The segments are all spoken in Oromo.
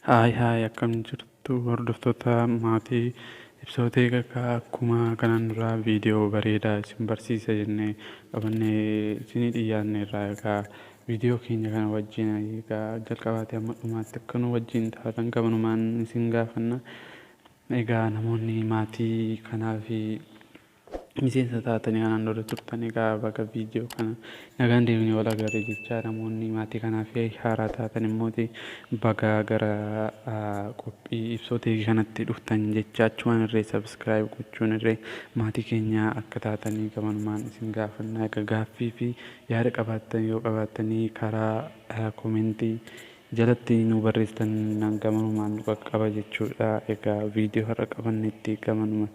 Haay haay akkam jirtu hordoftoota maatii ibsootee kakkaa akkuma kanaan duraa viidiyoo bareedaa isin barsiisa jennee qabannee isinii dhiyaanne irraa egaa viidiyoo keenya kana wajjin egaa jalqabaatee amma dhumaatti akka nu wajjin taatan kabanumaan isin gaafanna. Egaa namoonni maatii kanaa fi Miseensa taatanii kanaan dura turtan egaa baga viidiyoo kana nagaan deebinee wal agarre jechaa namoonni maatii kanaaf haaraa taatan immoo baga gara qophii ibsoo teekii kanatti dhuftan jecha achumaan irree sabiskiraayib gochuun irree maatii keenyaa akka taatanii gamanumaan isin gaafannaa egaa gaaffii fi yaada qabaattan yoo qabaattanii karaa komentii jalatti nu barreessitan gamanumaan nu qaqqaba jechuudha egaa viidiyoo har'a qabannetti gamanuma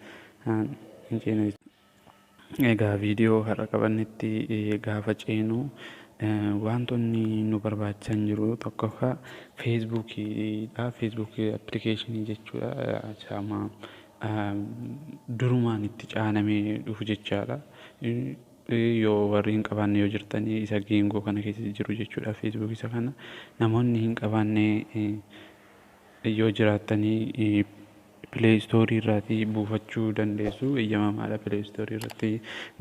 Haan hin ceenu jechuudha. Egaa viidiyoo har'a qabannetti gaafa ceenu waantonni nu barbaachisan jiru tokkoffaa feesbuukiidha. Feesbuukii appilikeeshinii jechuudha. Isaama durumaan itti caanamee dhufu jechaadha. Yoo warri hin qabaanne yoo jirtan isa geengoo kana keessa jiru jechuudha feesbuukii isa kana. Namoonni hin qabaanne Yoo jiraattanii play store irraati buufachuu dandeessu eyyamamaadha play store irratti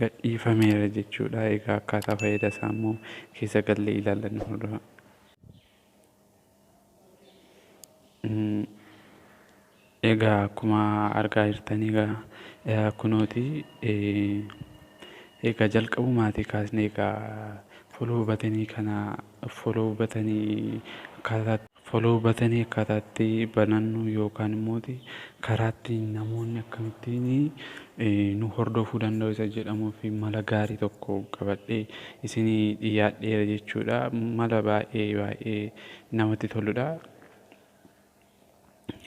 gadhiifameera jechuudha egaa akkaataa fayyada isaa immoo keessa gallee ilaallannu hordofaa. Egaa akkuma argaa jirtan egaa kunooti egaa jalqabumaatii kaasnee egaa foloo batanii kana foloo batanii akkaataa Follow button akkaataa itti banannu yookaan immoo karaa itti namoonni akkamittiin nu hordofuu danda'u isa jedhamuu fi mala gaarii tokko qabadhee isinii dhiyaadheera jechuudha. Mala baay'ee baay'ee namatti toludha.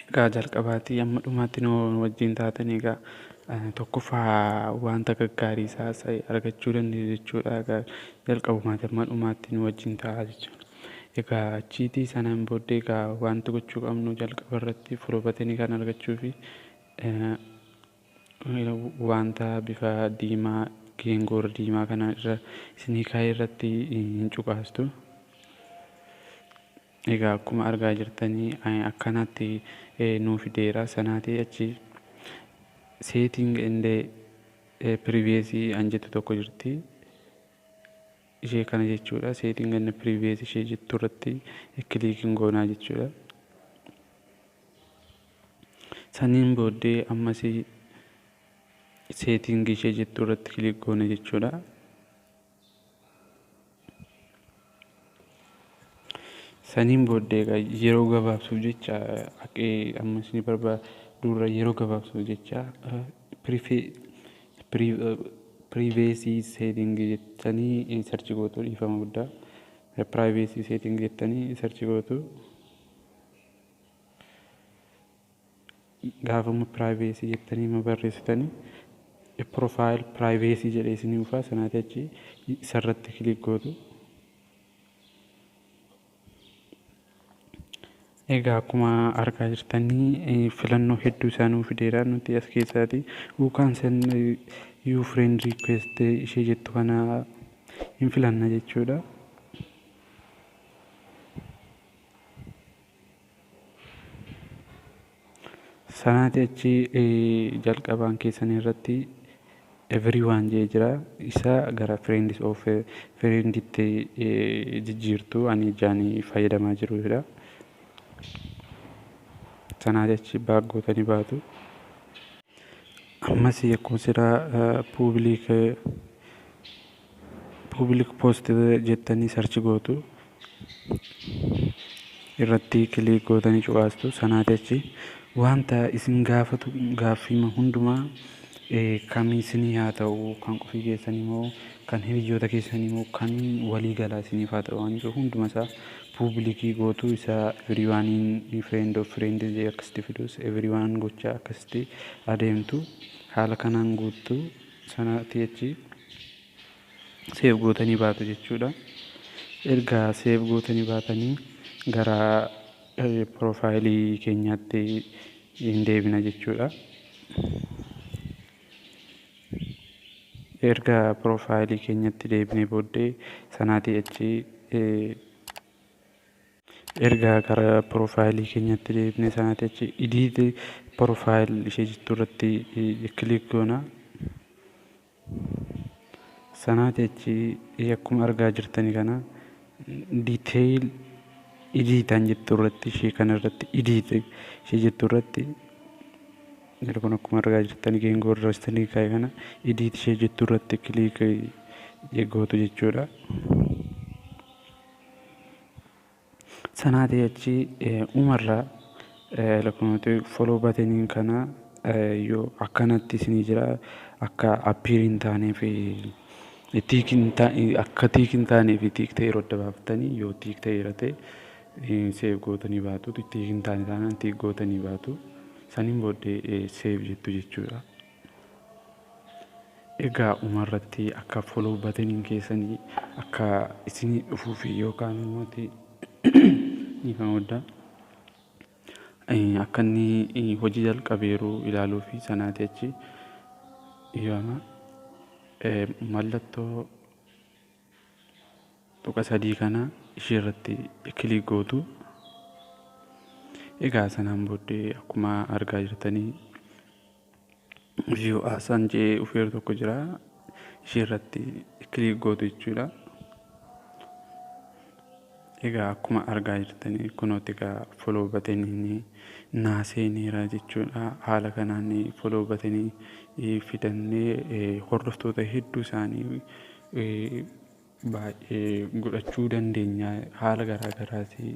Egaa jalqabaatii amma dhumaatti nu wajjin taatan egaa tokkoffaa wanta gaggaarii isaa argachuu dandeessu jechuudha. Egaa jalqabumaati amma dhumaatti nu wajjin ta'a jechuudha. Egaa achiitii sanaan booddee egaa wanti gochuu qabnu jalqaba irratti furobatini kan argachuufi wanta bifa diimaa geengoor diimaa kana irra isinii kaa'ee irratti hin cuqaastu. Egaa akkuma argaa jirtanii akkanaatti nuu fideera sanaatii achi seeting indee piriveesii an jettu tokko jirti. ishee kana jechuudha setting and previous ishee jettu irratti click hin goonaa jechuudha saniin booddee ammas setting ishee jettu irratti click goona jechuudha saniin booddee egaa yeroo gabaabsuuf jecha haqee ammas ni barbaada dura yeroo gabaabsuuf jecha Privacy setting jettanii search gootu dhiifama guddaa. Privacy setting jettanii search gootu. Gaafuma privacy jettanii ma barreessitanii profile privacy jedhee isinii dhufaa sanaatii achi isarratti click gootu. Egaa akkuma argaa jirtanii filannoo hedduu isaa nuu fideera nuti as keessaati uu kaansel yuu friend request ishee jettu kana hin filanna jechuudha. Sanaatii achi jalqabaan keessan irratti everyone jee jira isa gara friends of friend itti jijjiirtu ani ijaan fayyadamaa jiru jira. Sanaatii achi baag gootanii baatu. Ammas akkuma siraa public Public post jettanii search gootu. Irratti click gootanii cuqaastu. Sanaati achi wanta isin gaafatu gaaffiima hundumaa kan isinii haa ta'u kan qofii keessanii moo kan hiriyyoota keessanii moo kan walii galaa isiniif haa ta'u waan jiru hunduma isaa public gootu isa everyone in friend of friend jee akkasitti fiduus everyone gochaa akkasitti adeemtu haala kanaan guuttu. sana tii achi save gootanii baatu jechuudha erga save gootanii baatanii gara profile keenyaatti hin deebina jechuudha erga profile keenyatti deebinee booddee sanaatii achi Erga gara profile keenyatti deebine sanati achi edit profile ishee jettu irratti click goona. Sanati achi akkuma argaa jirtani kana detail edit an jettu irratti ishee kana irratti edit ishee jettu irratti yeroo kun akkuma argaa jirtani geengoo irra istanii kaa'e kana edit ishee jettu irratti click gootu jechuudha. Sanaatii achi umarra lakkoofnati follow button kana yoo akkanatti isinii jira akka appear hin taanee fi tick hin taane akka tick hin taanee fi tick ta'e yeroo adda baafattanii yoo tick ta'e irra ta'e save gootanii baatu tick hin taane taanaan tick gootanii baatu saniin booddee save jettu jechuudha. Egaa dhumarratti akka follow button keessanii akka isinii dhufuufi yookaan immoo ti ni kan hodda akka inni hojii jalqabeeru ilaaluufi sanaati achi yooma mallattoo tuqa sadii kana ishee irratti click gootu egaa sanaan booddee akkuma argaa jirtanii View as an jee dhufeeru tokko jira ishee irratti click gootu jechuudha egaa akkuma argaa jirtanii kunooti egaa follow batanii naa seeneera jechuudha haala kanaan follow batanii fidannee hordoftoota hedduu isaanii baay'ee godhachuu dandeenya haala garaa garaati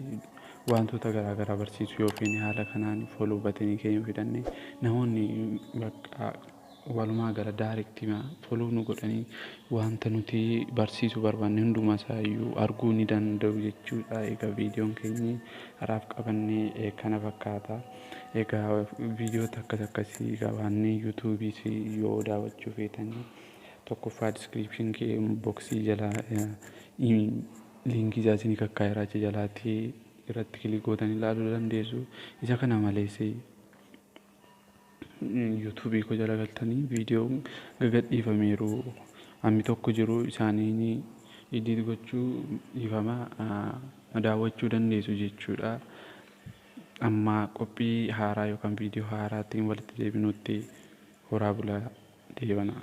waantoota garaa garaa barsiisuu yoo feene haala kanaan follow button keenya yoo hidhanne namoonni bakka walumaa gala directima follow nu godhanii wanta nuti barsiisuu barbaanne hundumaa isaa iyyuu arguu ni danda'u jechuudha. Egaa viidiyoon keenya haraaf qabanne eh, kana fakkaata. Egaa viidiyoota akkas akkasii qabaannee yuutuubiis yoo daawwachuu feetanii 1ffaa description kee box jalaa link isaa isinii kakkaa'eera achi jalaatti irratti click gootanii ilaaluu dandeessu. Isa kana malees YouTube koo jala galtanii viidiyoo gagadhiifameeru hammi tokko jiru isaaniin edit gochuu dhiifama daawwachuu dandeessu jechuudha. Amma qophii haaraa yookaan viidiyoo haaraatiin walitti deebinuutti horaa bulaa deebanaa.